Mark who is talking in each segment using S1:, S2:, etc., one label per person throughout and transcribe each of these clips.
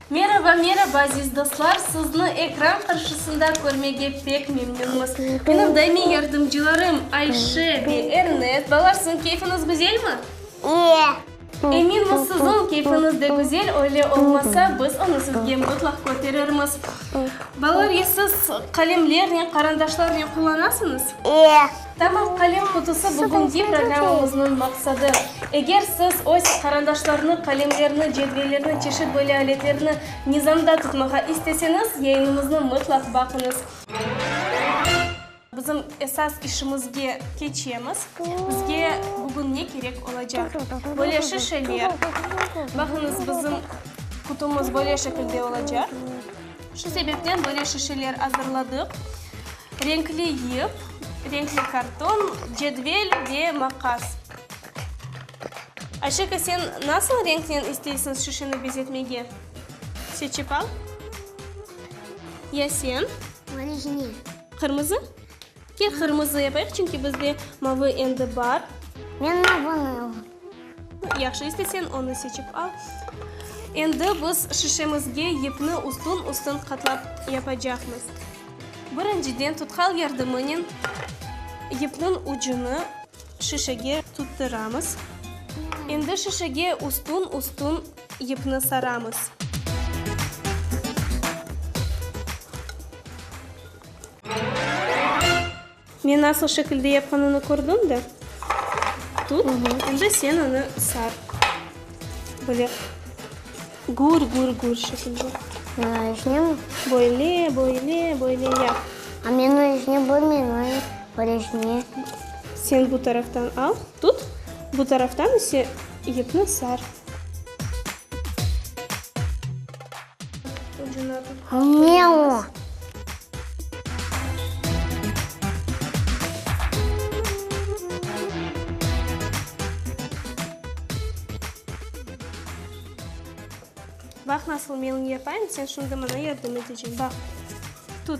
S1: Meraba, meraba, aziz dostlar! Sizni ekran qarşısında körmege pek memnünmiz. Menim daimiy yardımcılarım Ayşe ve Ernet. Balalar, siziñ keyfiñiz güzelmi? İyi.
S2: Eminmiz, siziñ
S1: keyfiñiz de güzel. Öyle olmasa, biz onı sizge mutlaq köterirmiz. Balalar, ya siz qalemlernen, qarandaşlarnen qullanasıñız? İyi.
S2: Tamam, Qalem
S1: qutusı bugünki programmamıznıñ maqsadı. Eger siz öz qarandaşlarnı, qalemlerni, cedvellerni, çeşit böyle aletlerni nizamda tutmağa isteseñiz, yayınımıznı mıtlaq baqıñız. Bizim esas işimizge keçemiz. Bizge bugün ne kerek olacaq? Böyle şişeler. Baqıñız, bizim qutumız böyle şekilde olacaq. Şu sebepten böyle şişeler azırladıq, renkli yip, renkli karton, cedvel ve maqas. Aşeka, sen nasıl renknen isteysıñ şişeni bezetmege? Seçip al. Ya sen? Mane jine.
S2: Qırmızı?
S1: Kel qırmızı yapayıq, çünki bizde mavı endi bar. Men mavını
S2: alam. Yahşı,
S1: istesen onı seçip al. Endi biz şişemizge yipni ustün-ustün qatlap yapacaqmız. Birinciden tutkal yardımınen yipniñ ucunı şişege tuttıramız. Endi şişege ustün-ustün yipni saramız. Men nasıl şekilde yapqanını kördiñ de, tut, endi sen onı sar, böyle gür, gür, gür şekilde. Bunı içinemi?
S2: Böyle,
S1: böyle, böyle yap. A men onı içine
S2: bölmeyim, onı böyle içine. Sen
S1: bu taraftan al, tut, bu taraftan ise yıpnı sar. Ne o? Bax, nasıl mening yapayım, sen şimdi maña yardım eteceksin. Bax, tut.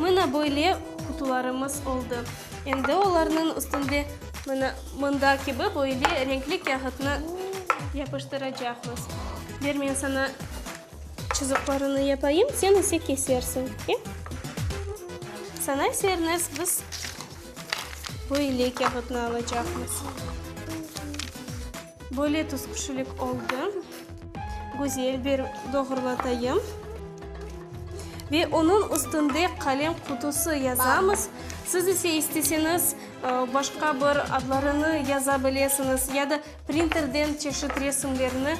S1: Mına böyle qutularımız oldı. Endi olarnıñ üstünde. Mına mında kibi böyle renkli kâğıtnı yapıştıracaqmız. Ber, men saña çızıqlarını yapayım, sen ise kesersiñ, e? Saña ise, Ernest, biz böyle kâğıtnı alacaqmız. Böyle tüsqüşilik oldı. Güzel bir doğrulatayım. Ve onıñ üstünde qalem qutusı yazamız. Siz ise isteseñiz başqa bir adlarını yaza bilesiñiz ya da printerden çeşit resimlerni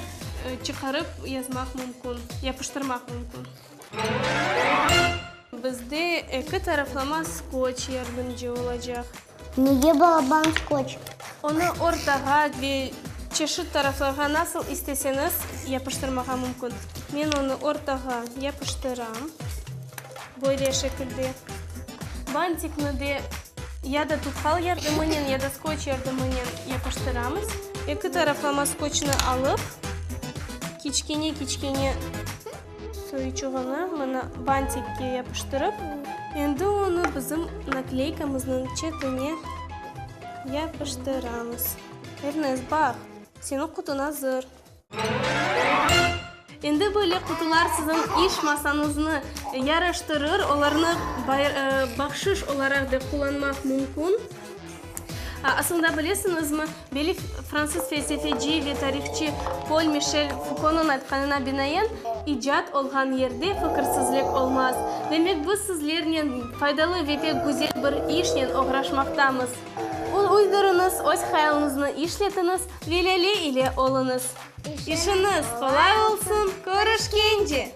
S1: çıqarıp yazmaq mümkün, yapıştırmaq mümkün. Bizde eki taraflama skoç yardımcı olacaq. Nege
S2: balaban skoç? Onı
S1: ortağa ve çeşit taraflarğa nasıl isteseñiz yapıştırmağa mümkün. Men onı ortağa yapıştıram, böyle şekilde. Bantikni de ya da tutkal yardımınen, ya da skoç yardımınen yapıştıramız. Eki taraflama skoçnı alıp, kiçkene-kiçkene Soyuçığını mına bantikke yapıştırıp. Endi onı bizim nakleykamıznıñ çetine yapıştıramız. Ernest, baq, seniñ qutuñ azır. Endi böyle qutular siziñ iş masañıznı yaraştırır, olarnı bahşış olaraq da qullanmaq mümkün. Asılında bilesiñizmi, belli fransız felsefeci ve tarihçı Pol Mişel Fukonıñ aytqanına binaen, icat olğan yerde fikirsizlik olmaz. Demek, biz sizlernen faydalı ve pek güzel bir işnen oğraşmaqtamız. Uydurıñız, öz hayalınıznı işletiñiz ve Lâle ile oluñız! İşiñiz qolay olsun, körüşkence!